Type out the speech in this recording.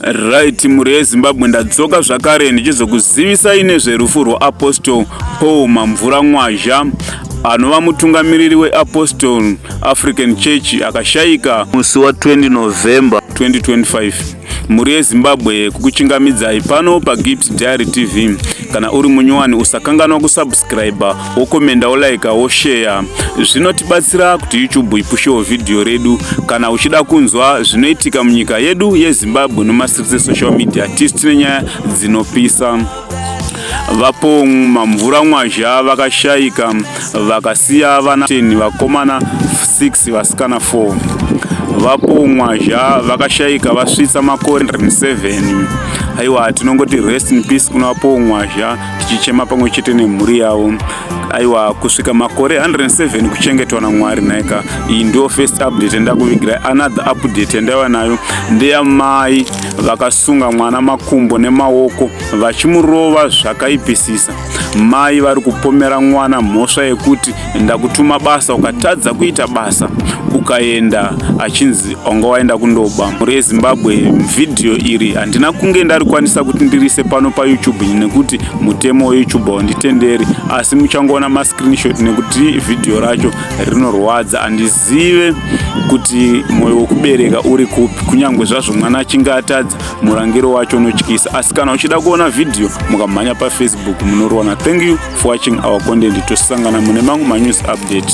Right, mhuri yeZimbabwe ndadzoka zvakare ndichizokuzivisai nezverufu rwaApostle Paul Mamvura Mwazha anova mutungamiriri weApostle African Church akashaika musi wa 20 November 2025. Mhuri yeZimbabwe kukuchingamidzai pano paGift Diary TV. Kana uri munyowani usakanganwa kusubscriber. wokomenda wolaika wosheya zvinotibatsira kuti youtube ipushewo vhidhiyo redu kana uchida kunzwa zvinoitika munyika yedu yezimbabwe nemastreets esocial media tisi tine nyaya dzinopisa vapo mamvura mwazha vakashaika vakasiya vana 10 vakomana 6 vasikana 4 vapo mwazha vakashaika vasvitsa makore 7 aiwa tinongoti rest in peace kuna vapo mwazha tichichema pamwe chete nemhuri yavo aiwa kusvika makore 107 kuchengetwa namwari nhaika iyi ndiyo first update yandakuvigirai another update yandaiva nayo ndeyamai vakasunga mwana makumbo nemaoko vachimurova zvakaipisisa mai vari kupomera mwana mhosva yekuti ndakutuma basa ukatadza kuita basa ukaenda achinzi wanga waenda kundoba mhuri yezimbabwe vhidhiyo iri handina kunge ndarikwanisa kuti ndirise pano payoutube nekuti mutemo weyoutube haunditenderi asi muchangoona mascreenshot nekuti vhidhiyo racho rinorwadza handizive kuti mwoyo wekubereka uri kupi kunyange zvazvo mwana achinge atadza murangiro wacho unotyisa asi kana uchida kuona vhidhiyo mukamhanya pafacebook munoriwana thank you for watching our content tosangana mune mamwe manews update